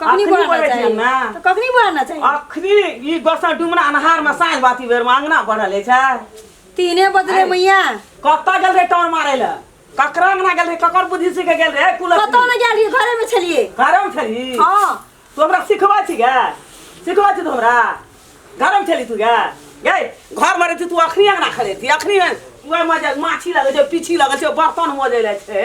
कखनी अखनी बोलना बोलै छियै चाहिए ने। तो कखनी बोलना चाहिए अखनी ई गोसा डुमरा अन्हार में साँझ बाती बेर में अंगना बढ़ल है छै तीने बजले मैया कतऽ गेल रहे टाउन मारे ले ककरा अंगना गेल रहे ककर बुद्धि सीखे गेल रहे कुलत कतौ ने गेल रहिए घरे में छलिए घरम छली हाँ तू हमरा सिखबै छी गे सिखबै छी तू हमरा घरम छली तू गे गे घर में रहती तू अखनी अंगना खड़े थी अखनी उएह मजे माछी लगै छै पीछी लगै छै बर्तन मजे लै छै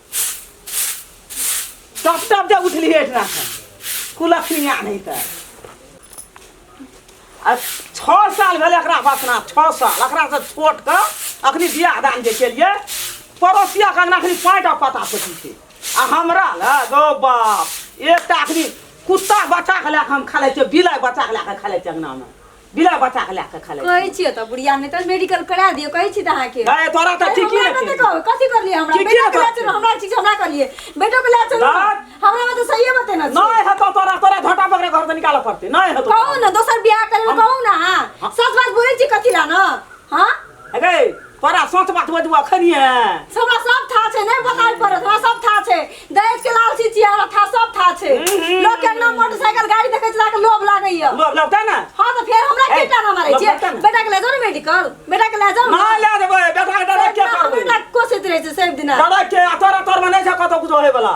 टप टप जब उठली हेठ राखन कुलखनी आ नहीं तऽ आ छओ साल भेलै एकरा बसना छओ साल एकरासँ छोट कऽ अखनी बियाह दान जे केलियै पड़ोसिया के अंगना अखनी पाँच टा पता पटी छै आ हमरा लए गौ बाप एकटा अखनी कुत्ता बच्चा के लए कऽ हम खेलै छियै बिलाइ बच्चा के लए कऽ खेलै छियै अंगनामे बिना बच्चा के लेके खेले कहै छियै तऽ बुढ़िया नहि तऽ मेडिकल करा दियौ कहै छी तऽ अहाँके दाय तोरा तऽ अरे ठीके हमरा ने कते कहबै कथी करलियै हमरा ठीके बेटा के बात लाज छै। हमरा चीज हमरा करलियै बेटो के लाज छै दाय। हमरा में तऽ सहिए बतेना छै नहीं है तो तोरा तोरा झोटा पकड़े घर से निकाल पड़ते नहीं है तो कहू ने दोसर बियाह करबै कहू ने अहाँ सच बात बोलै छी कथी लए ने हँ अगे तोरा सच बात बजू अखन है हमरा सब था छे नहीं बताई पर हमरा सब था छे दहेज के लालची छी हमरा था सब था छे हम्म। लोग के ना मोटरसाइकिल गाड़ी देखे चला के लोभ लागे या लोग लगता ना हां तो फिर हमरा के टाना मारे छे बेटा के ले जाओ मेडिकल बेटा के ले जाओ ना ले देबे बेटा के दादा के करबे बेटा कोसे रहे छे सब दिन दादा के तोरा तोर में नहीं छे कतो कुछ होए वाला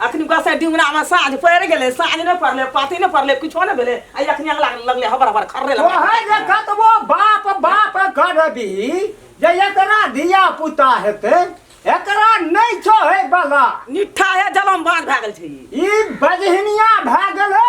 अखनी बस डिमरा में साँझ पड़ गेले साँझ ने पड़ले पाती ने पड़ले कुछो ने भेले आ अखनी अगला लगले हबर हबर खर्रे लग ओहे जे कतबो बाप बाप करबी जे एकरा धिया पुता हेतै एकरा नहि छोहे बला निठा है जलम बाँध भए गेल छै ई ई बजहिनिया भए गेलै